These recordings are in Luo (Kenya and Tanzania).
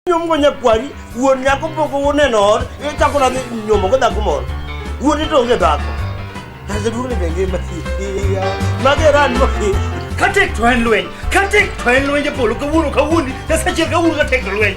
nyomgo nyakwari wuon nyako pok uneno ot ichako nadhi nyomogo dhako moro wuon ito onge dhako aseduogni be ngima mageran katek to en lweny katek to en lwenje polo kawuono kawuondi nyasachiel kawuono katek to lweny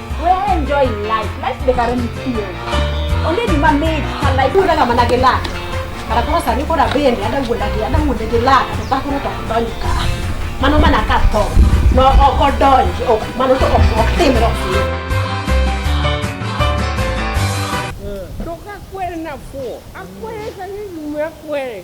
enjoy life. Life the current feel. Only the man made her life. Kuna kama na gela. Kana kwa sari kwa bende ada ngunda gela ada ngunda gela kata kuna to donka. Mano mana kato. No oko donji. Oh, mano to oko timro. Toka kwere na fuo. Akwere kanyi mwe kwere.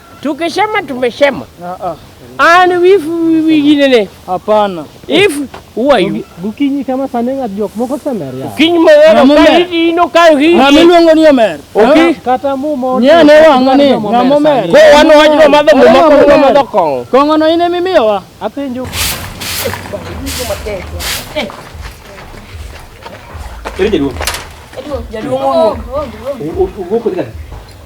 Tukisema tumesema. Ah, ah. And if wengine ne. Hapana. If who are you? Gukinyi kama sanenga jok moko semer ya. Gukinyi mo wera kali ino kayo hi. Na miluongo ni omer. Okay. Kata mu mo. Nya ne wanga ni na mo mer. Ko wan wach no madho mo mako no madho kongo. Kongo no ine mimiyo wa. Apenjo. Eh. Eri jaduong. Jaduong. Jaduong. Ugo kodi kadi.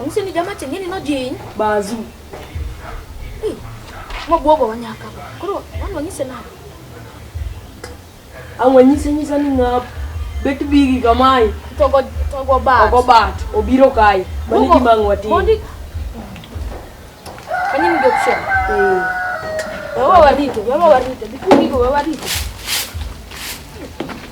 Ong'isi ni jama chengeni nojiny. Bazu. Hey, mobwogo wanyaka. Koro wan wanyise nade? Ang' wanyise nyisa ni ng'ap bet bigi kamae. To go to go bat. Ogo bat obiro kae. Mani Mogo- gima ang' watim. mondi- Kanyo ni option. Eh. Wewe warito, wewe warito. Bikundigo wewe warito.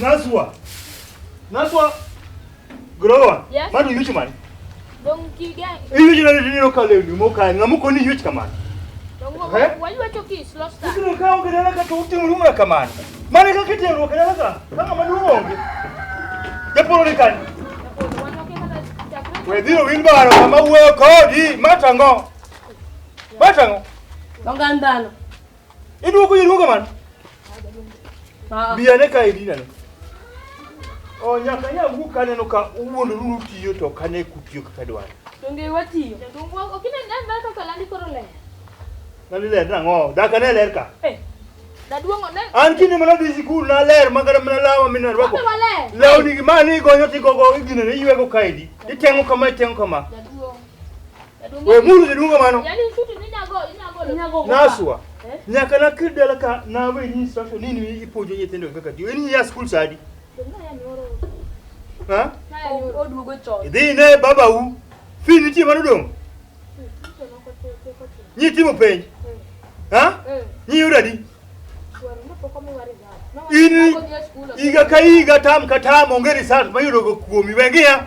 Naswa. Naswa. Growa. Yes. Manu yuchi mani. Dong kigen. Iyu jina ni nino kale ni mo kale ngamu koni yuchi kamani. Dong wo eh? wali wacho ki slosta. Kino ka onge dala ka tuti mluma kamani. Mani ka kiti ro kala ka. Kama manu onge. Japolo ni kani. Wediro wilbaro kama uwe kodi matango. Matango. Dongandano. Iduogo iduogo man. Ah. Biya ne ka idina ne. O nyaka nya wuok aneno ka uwuondo ruru tiyo to kane kutiyo kaka dwaro. Donge watiyo. Donge wuok okine ndan na kaka landi koro le. Landi le nango. Daka ne ler ka. Eh. Daduongo ne. An kinde mana dhi sikul na ler ma kata mana lawa min na rwako. Law ni ma ni gonyo ti gogo igine ne ywego kaidi. Itengo kama itengo kama. Daduongo. We mulu ni dunga mano. Yaani shuti ni nyago, nyago. Nyago. Naswa. Eh? Nyaka na kid dala ka na we ni instruction ni ni ipojo ni tendo kaka di. Ni ya school sadi. Ha? Odugo chon. Idhi ne baba u. Fi ni ti mano dong. Ni ti mo penj. Ha? Ni yura di. Ini iga ka iga tam ka tam ongeri sat mayudo go kuomi wengi ya.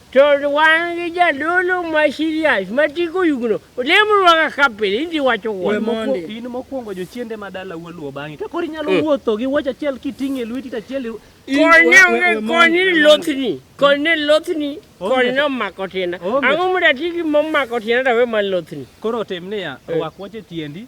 To wan gi jadolo ma serious ma tiko yugno olemo rwaga ka pile inti wacho We wuon. mondi. Moko- in mokwongo jochiende ma dala waluo bang'e ka koro inyalo Mm. wuotho gi wuoch achiel kiting'o e lweti to achiel i- i- Konye we- we- onge we mondi, konye we mondi. lothni. Konye lothni. Onge. Konye nomako tienda. Onge. Ang'o mondo atigi momako tienda to awe mar lothni. koro tim niya Eh. rwak wuoch e tiendi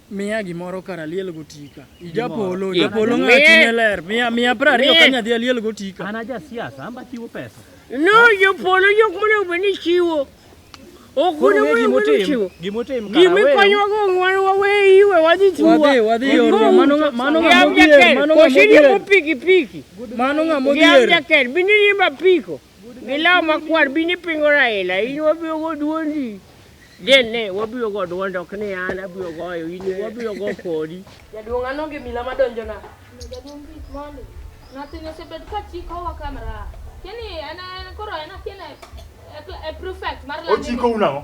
Miya gimoro kar aliel gotika. Japolo, japolo ng'a chunye ler. Miya miya pra ariyo ka nyadhi aliel gotika. An aja siasa, amba chiwo pesa. No, jopolo jok monego bed ni chiwo. Ok Koro onego ng'e bed ni gimotim, chiwo. gimotim kara Gimi wew. konyo wago ng'wan wawe iwe wadhi tuwa. Wadhi, wadhi Wadhi, yorwa. Mano ng'a- mano ng'a Yam modhier, jakel, mano ng'a kosi modhier. riembo pikipiki. Mano ng'a Yam modhier. jakel, bende riembo apiko. Gi law makwar bini pingo Raila in wabiro go duondi. Jen ne wabiro go duondi ok ni an abiro goyo in wabiro go kodi. Jaduong' an onge mila madonjo na. Jaduong' kik mondi. Nothing osebed ka chikowa kamera. Kini en koro en akina e prefect mar London. Ochiko unang'o?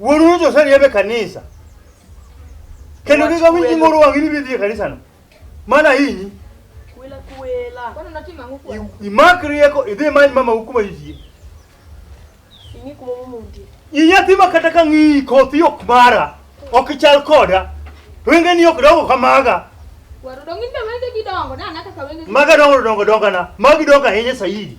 Wulu to sali yabe kanisa. Kendo Wach giga winji kwelo. ngoro wangi ni bidhi e kanisa no. Mana hinyi. Kwela kwela. Kwani unatima nguku wewe? I- Imak rieko idhi many mama hukuma yie. Ingi kuma mumundi. Inyathi ma kata ka ng'iyi kothi ok mara, ok chal koda. To wenge ni ok dongo kamaga. Waru dong in be wenge gidongo na na kaka wenge. Maga dongo dongo dongana. Magi dongo ahinya saidi.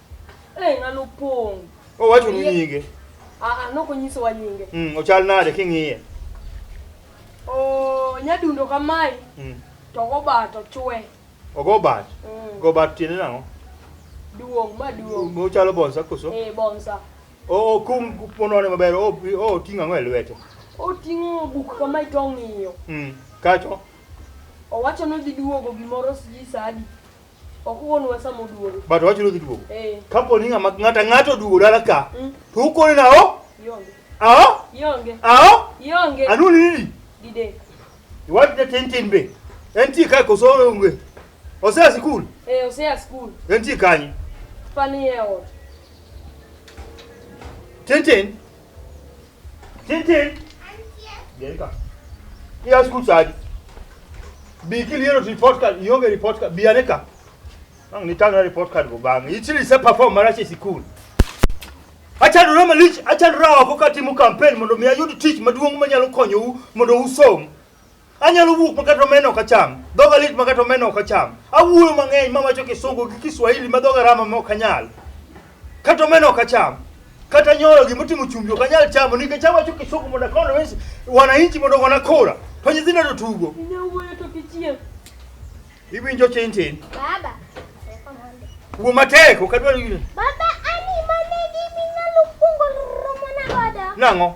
Eh, ng'ano pong'. Owacho ni nyinge. Ah, ah, nok onyisowa nyinge. Mm, ochal nade king'iye? Oh, nyadundo kamae. Mm. To go bat ochwe. Ogo bat. Mm. Go bat tiende nang'o? Duong' ma duong'. Mo chalo bonsa koso? Eh, bonsa. O kum ponone maber, o o ting'o ang'o e lwete? Oting'o buk kamae to ong'iyo. Mm. Kacho? Owacho ni odhi duogo gimoro sijui saa adi. Ok wuonwa sama oduogo. But wacho ni odhi duogo. Eh. Kapo ni ng'ama ng'ata ng'ato oduogo dala ka, Mm. to ukone nao? Yonge. Ao? Yonge. Ao? Yonge. Anu ni nini? Dide. Iwacho ni tin tin be. En ti ka koso onge. Osea sikul. Eh, osea school. En ti kanye? Pani e ot. Tin tin. Tintin. Jerika. Iya school charge. Bi kili yero report card, yonge report card, bi aneka. Ang ni tanga report card go bang. Ichili se perform marache school. Acha rama lich, acha rawa ko kati mu campaign mondo mi ayud tich maduong' manyalo konyou mondo usom. Anyalo wuok makata omena ok acham. Dhoga lit makata omena ok acham. Awuoyo mang'eny mawacho kisungu gi kiswahili ma dhoga rama ma ok anyal. Kata omena ok acham. Kata nyoro gima otimo chumbi ok anyal chamo nikech awacho kisungu mondo akono wesi wananchi mondo ogona kura. To nyithindo to tugo. Inyawuoyo to kichieng'. Iwinjo tin tin. Baba. Teko mondo. Wuo matek ok adwar yire. Baba ani mane giminyalo kuongo romo na godo. Nang'o?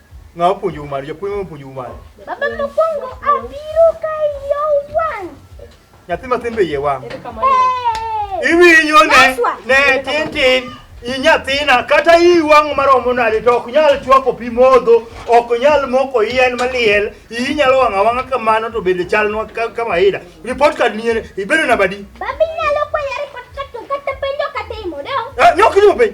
Ng'a opuonjou mano? Japuonj mane opuonjou mano? Baba mokwongo abiro ka iyo wang'. Nyathi matin be iye wang'. Hey! Iwinjo ne Naswa. ne tin tin i nyathina kata i wang' maromo nade to ok nyal chwako pi modho, ok nyal moko yien maliel, iyi nyalo wang' awang'a kamano to bende chalnwa ka- kama ida. Report card ni ere, ibedo namba di? Baba inyalo kwaya report card to kata penjo katimo dong. Eh, Nyok ni openj.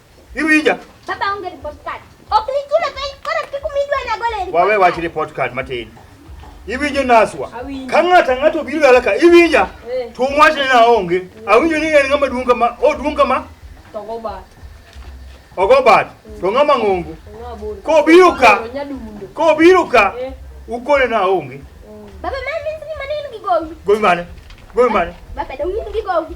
Iwinja? Baba onge report card. Ok nichule piny koro kik umidwa na gole report. Wawe wach report card matin. Iwinjo naswa. Ka ng'ata ng'ato obiro dala ka iwinja. Eh. To wach ni naonge. Awinjo ni en ng'ama duong' kama, o duong' kama. To go bat. Ogo bat. To ng'ama ng'ongo. Ko biro ka. Ko biro ka. Eh. Ukone na onge. Baba mami ni maneno gigowi. Gowi mane? Gowi mane? Baba dawinjo gigowi.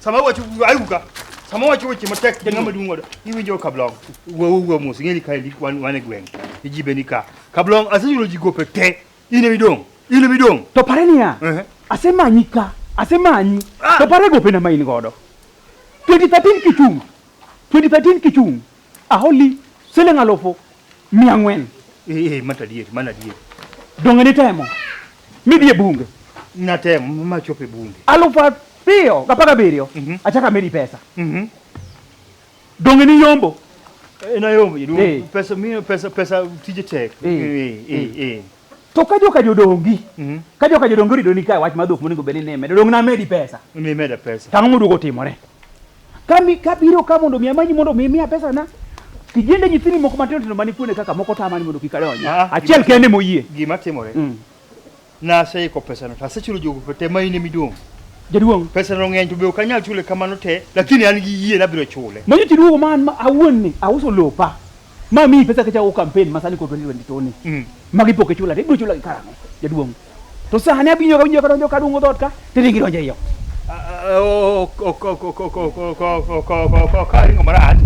sama wacho ayuga sama wacho weche matek ja ng'ama duong' wada iwinjo kablong wuowu wuo mos ing'eni ka endi wan wan e gweng' ijibe ni ka kablong asenyulo ji gope te in emi dong' in emi dong' to pare niya Ehe. asemanyi ka asemanyi Ah. to pare gopena ma in godo 2013 kichung' 2013 kichung' A holi siling alufu mia ang'wen. Eh, eh, mano adieri, mano adieri. Donge nitemo midhi e bunge? Natemo ma chopo e bunge. Alufu ariyo gapar gabiriyo Mhm. achaka medi pesa. Mhm. Donge niyombo? Eh, Nayombo, Eh. pesa, mi- pesa, pesa tije tek. Eh, Eh, eh, eh. To ka joka jodongi, mm -hmm. ka joka jodongi orido ni ka wach ma dhok monego bed ni nime, jodong na medi pesa. Mi meda pesa. Tang'o moduogo timore. Kami kabiro ka mondo mi amanyi mondo mi miya pesa na. Kijende nyithini moko matindo tindo mani kuone kaka moko tamani mondo kik adonji. Ah, ah, Achiel kende moyie. Gima timore. Mm. Na aseiko pesa no. Asechulo jogo pete ma in emiduong'. Jaduong'. Pesa no ng'eny to be ok anyal chule kamano te, lakini an gi yie nabiro chule. Manyo chiduogo man awuon ni auso lopa. Ma mi pesa ka chawo campaign masani ko 2022 ni. Mm. Ma gipo ke chula, ibro chula kara mo. Jaduong. To sani abinyo ka winjo ka donjo ka dungo dot ka, tiri gi donjo iyo. Karingo marach,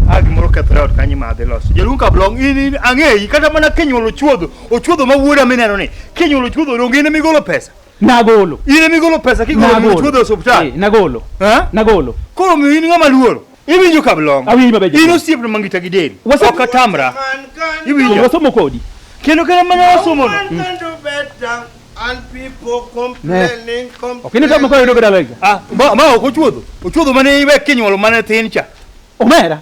a gimoro kethre ot kanyo madhi loso. Jaduong Kablong, in in ang'eyi kata mana kinyuolo chuodho, ochuodho ma wuoda mineno ni, kinyuolo chuodho donge in emigolo pesa? Nagolo. In emigolo pesa kigolo chuodho e osuptal? Nagolo. Nagolo. Koro miyo in ng'ama luoro. Iwinjo kablong'. Awinjo maber. In osiepna ma ngita gi del. Wasa- Ok atamra. Iwinjo. Wasomo kodi. Kendo kata mana wasomono. Ok in itamo ka yudo ka dala higa. Ah, ma ma ok ochuodho. Ochuodho mane iwe kinyuolo mane tin cha. Omera.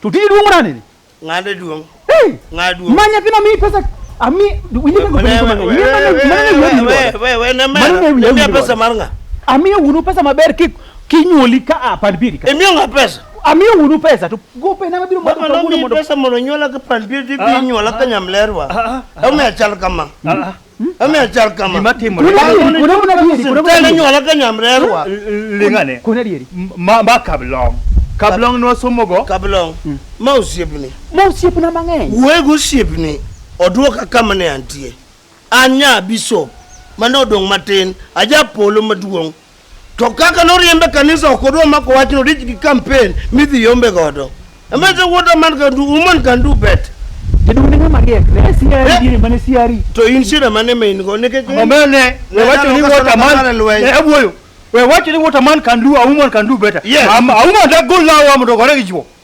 To tiji duong' nani? Ng'ade duong'. Hey! Ng'ade duong'. Manya pina mi pesa ami winje ko pesa. Manya pesa mar ng'a. Ami unu pesa maber ki kinyoli ka a pan biri ka. Emi ng'a pesa. Ami unu pesa to gope na mabiro mondo to unu mondo pesa mondo nyola ka pan biri bi nyola ka nyamlerwa. Au me achal kama. Amiya chal kama. Gima timore. Kuna dieri, kuna kuna dieri, kuna kuna Tena dieri. nyuola ka nyamrerwa. Lingane. Kuna dieri. Ma ma kablong. Kablong no somogo. Kablong. Ma osiepni. Ma osiepna mang'eny. Wuoye go osiepni oduoka kama ne antie. Anya bishop mane odong' matin, aja polo maduong' To kaka noriembe kanisa ok odwa mako wachno rich gi kampen midhi yombe godo. Amese wuota man kan du woman kan du bet. Jaduong' ne ng'ama riek. Ne siari Eh. gini mane siari. To in shida mane ma in go nikech Omene, we Nyalo wacho ni kaka water man. Ramadhan lweny. Ne awuoyo. We wacho ni water man can do, a woman can do better. Yes. Um, a woman that go lawa mondo gore gi chwo.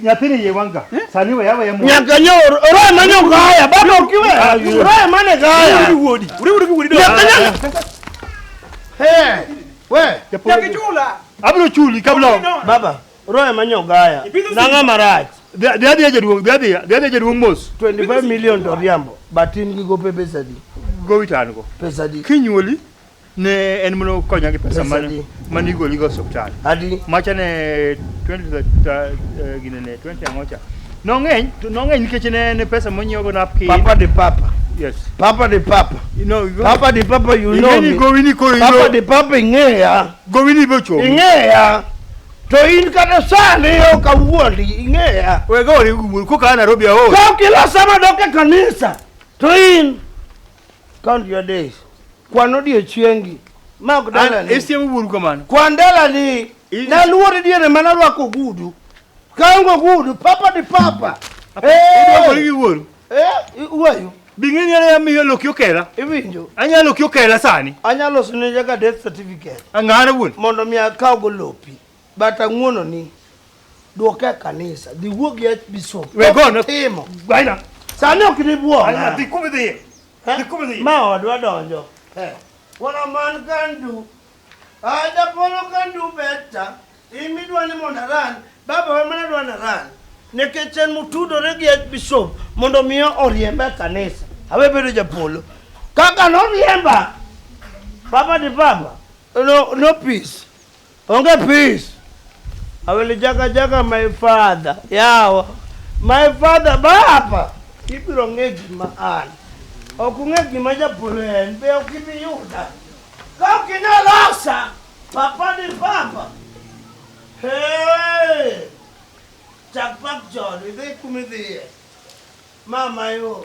nyathini iye wang' ga eh? sani we aweya mo nyaka nyo roe ma nyo gaya bado ok iwe ah, roe ma ne gaya uri wuodi uri uri wuodi nyaka nyo eh we nyaka chula abro chuli kabla baba roe ma nyo gaya nanga marach Dhadhi ya jaduong, dhadhi ya jaduong mos. 25 million to riambo, but in gigo pe pesa di. Gowi tango. Pesa di. Kinyuoli. Ne en mana okonya gi pesa Pesa di. mane igoligo e osiptal. Adi. Macha ne 20 ta- eh, gine ne 20 ang'ocha. Nong'eny, to nong'eny nikech ne ne pesa monyiewogo napkin. Papa de papa. Yes. Papa de papa. You know, you go- Papa de papa you Ing'e know ni me. gowini koro Papa ilo- de papa ing'eya. Gowini bochomi. Ing'eya. To in kata sani ok awuondi ing'eya. Wega ori wuol koka Nairobi aol. Ka ok ilosa madok e kanisa to in Count your days. Kwan odiechiengi. Ma ok dalani. Isiemo wuoru kamano. Kwan dalani. Naluore diere mana rwako ogudu. Kaongo ogudu, papa di papa. Iduokori gi wuoru. Eh, wuoyu. Bing'e ni anya miyo loki okela. Iwinjo. Anya loki okela sani. Anya loso ne jaga death certificate. Ang'ara wuon. Mondo mi akaw go lopi. But ang'uono ni duoke kanisa dhi wuo gi bishop. We go no. Timo. Gwaina. Sani ok ni buo. Ana dhi kuma dhi. Dhi kuma dhi. Ma odwa donjo. Eh. Wala man can do. Ada polo can do better. Imi dwa ni mondo aran. Baba wa mana dwa na ran. Nikech en mutudore gi bishop mondo miyo oriembe kanisa. Awe bedo japolo. Kaka noriemba. Baba di baba. No, no peace. Onge peace. I will jaga jaga my father. Yawa. My father baba. Ibiro ng'e gima an. Ok ung'e gima japolo en. Be ok ibi yuda. Ka ok inyalosa. Papa ni papa. Hey. Chak pak chon. Idhi kumidhiye. Mama yo.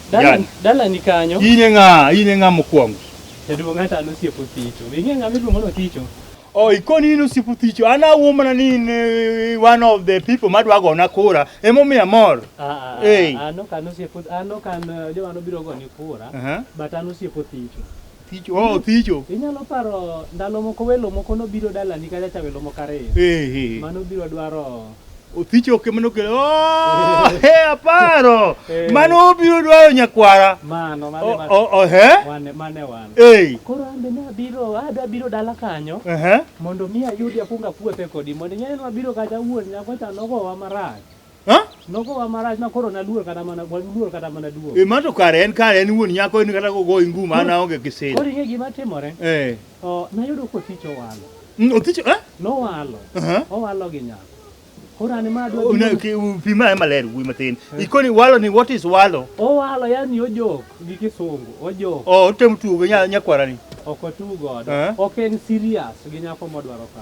Dala- dala ni kanyo In e ng'a? In e ng'a mokwongo? jaduong' hata an osiep othicho ing'e ng'ama iluongo ni othicho Oh, ikoni in osiep othicho. An awuo mana ni in eh, one of the people madwa gona kura. Emomiyo amor. Ah, ah, Ei. ah, an ok an osiep oth- an ok an eh, joma nobiro goni kura Aha. but an osiep othicho Thicho. Oh, thicho. Inyalo paro ndalo moko welo moko nobiro dalani kacha cha welo moko ariyo. Eh, eh. Mano biro dwaro othicho oke mano kele oh, he aparo eh. mano obiro dwaro nyakwara mano mane oh, oh, oh, he wane mane wane eh koro ambe ne abiro ada biro dala kanyo eh uh -huh. mondo mi ayudi akunga puothe kodi mondo nyane no abiro kaja wuon nyako cha nogo wa marach Ha? Nogowa marach ma koro naluor kata mana waluor kata mana duogo. E ma to kare en kare en wuon nyako en kata kogoyi ngum an aonge gi sir. Koro ing'e gima timore? Eh. Oh, nayudo kotich owalo. Mm, Othicho eh? Nowalo. Aha. Owalo gi nyako. Koro an ma adwa Oh, na- duogo. ki- Pi ma maler wuoyi matin. Ikoni walo ni what is walo? Owalo yani ojok gi kisungu. Ojok. Oh, otemo tugo gi nya- nyakwara ni. Ok otugo godo. Eh? Ok en serious gi nyako modwaro ka.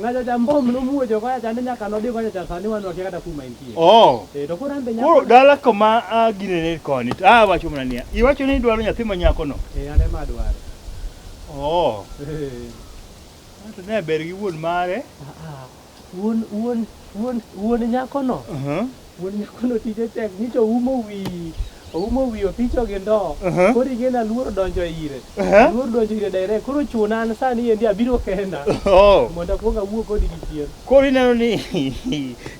Ng'acha cha mbom nomuojo koya chande nyaka nodhi kocha cha sani wan wakia kata kuma entie. Oh. Eh, to koro ambe nyako. Koro dala kama ah, gine ne koni. Ah, wacho mana niya. Iwacho ni idwaro nyathi ma nyako no. Eh, ane ma dwaro. Oh. Eh. Anto ne ber gi wuon mare. Ah, ah. Wuon wuon wuon wuon nyako no. Uh -huh. Wuon nyako notich ochek nyicha oumo wi oumo wi othicho gi ndoo. Aha. Koro ing'eni aluoro donjo ire. Aha. Aluoro donjo ire direct. Koro chuna an sani endi abiro kenda. Oh. Mondo akuong awuo kodi gi chien. Koro ineno ni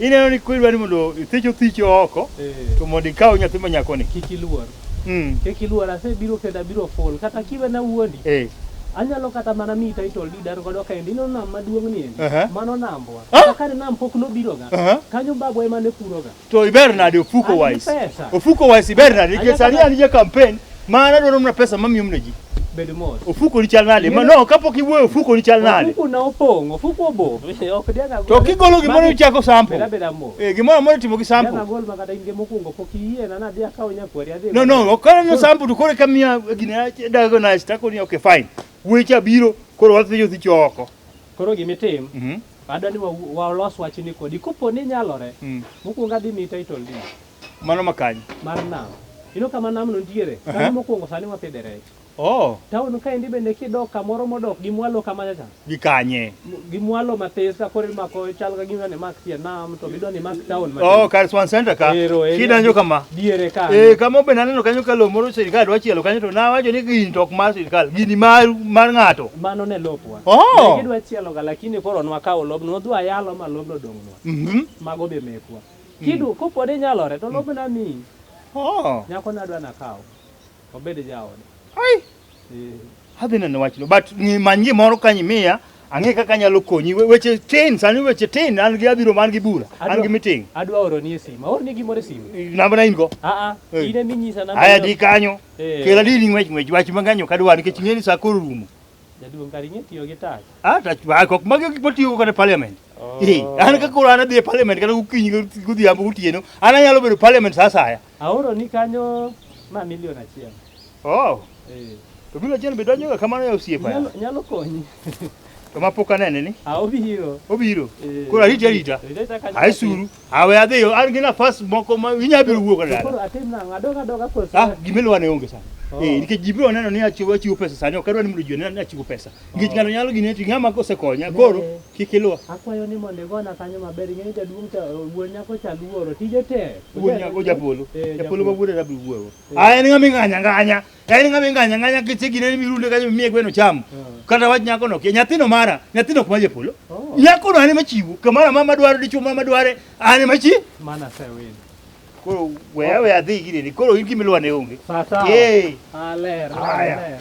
ineno ni koro idwa ni mondo ithich othicho oko Eh. to mondo ikaw nyathi ma nyakoni. Kik iluor. Mm. Kik iluor, asebiro kendo abiro full. Kata kiwe na wuondi. Eh. Anyalo kata mana mi title deed an godo kaendi ino nam maduong' ni endi. Uh -huh. Mano nambwa. Ah? Kata kane nam pok nobiro ga. Uh -huh. Kanyo babwa ema ne puro ga. To iber nade ofuko wise? Ofuko wise iber nade? Nikech sani an je campaign ma anadwaro mna pesa mamiyo mna ji. Bedo mos. Ofuko ni chal nade? Ma no kapok iwuoyo ofuko ni chal nade? Ofuko na opong', ofuko obo. Ok diaga. To kigolo gimoro ichako sample. Beda beda mo. Eh, gimoro amora itimo gi sample. Yana gol makata in mokwongo pok iyie na nadhi akawo nyakwari adhi. No no, okana no sample to kore kamia gina dago na stako ni okay fine. Weche abiro koro wadhi yo thicho oko. Koro gimitim. Mhm. Mm Adwa ni walos wa wachni kodi kopo ni nyalore. Mm. Mokwongo adhi mi title ni. Mano makanyo. Mar nam. Ino kama nam no nitiere. Uh -huh. Kama mokwongo sani wapidhe rech. Oh. Town kaendi bende kidok kamoro modok gi mwalo kama cha. Gi kanye? Gi mwalo matis ka kore mako chal ka gima ne mak tie nam to bidwa ni mak town matin. Oh, kar Swan Center ka. Kidanjo kama. Diere ka. Eh, kama be naneno kanyo ka lomo ro sirkal dwa chielo kanyo to nawacho ni gini tok mar sirkal, gini mar mar ng'ato. Mano ne lopwa. Oh. Ne gidwa chielo ga lakini koro nwakawo lobno, wadhi wayalo ma lobno dong'nwa. Mhm. Mm Mago be mekwa. Kidu mm. kopode nyalore to lobna mi. Oh. Nyako nadwa nakawo. Wabed jaode. Ai. Eh. Adhi neno wachno but manyie moro kanyi miya ang'e kaka anyalo konyi weche tin sani weche tin an gi abiro man gi bura an gi meeting adwa oro ni simu or ni gimoro simu namba na in go a a ine mi nyisa namba aya di kanyo eh. kela di ni ngwech ngwech wach manganyo kadwa nikech ng'eni sa koro rumo jaduong kari ng'e tiyo gi tach a tach ba kok magi gik matiyo kata parliament oh. eh an ka koro an adhi e parliament kata gokinyi godhiambo gotieno an anyalo bedo parliament sa saya Aoro ni kanyo ma milion achiel. Oh. Eh. To milion achiel be donjoga kamano ya osiepa. Nyalo, nyalo konyi. to ma pok anene ni. Ah, obiro. Obiro. Eh. Koro arita arita. Ai suru. Awe adhi yo an gi nafas moko ma inya biro wuok dala. Koro atim nang'o? Adoga adoga kosa. Ah, gimelo ane onge sana. Oh. Eh, nikech ji biro neno ni achiwo achiwo pesa sani ok adwa ni mondo ji one ni achiwo pesa. Nikech oh. ng'ano nyalo gine ti ng'ama kosekonya koro. Eh. Kik iluwa. Akwayo ni mondo igona kanyo maber, ing'e ni jaduong' cha wuon nyako cha luoro, tije tek. Wuon nyako japolo. Eh, Japolo ma wuode rabiro wuoro. Ah, en ng'ama ing'anya ng'anya. En ng'ama ing'anya ng'anya kiche gine ni mirunde kanyo mie gweno cham. Kata wach nyako no kia. Nyathino mara, nyathino kuma japolo. Oh. Nyako no ane machiwo. Kamara mama dwaro dichwo mama dware. Ane machi. Mana sewin. Koro weya weya dhi gine ni. Koro in gimiluwa ne onge. Sasa. Eh. Aler, Haya. aler.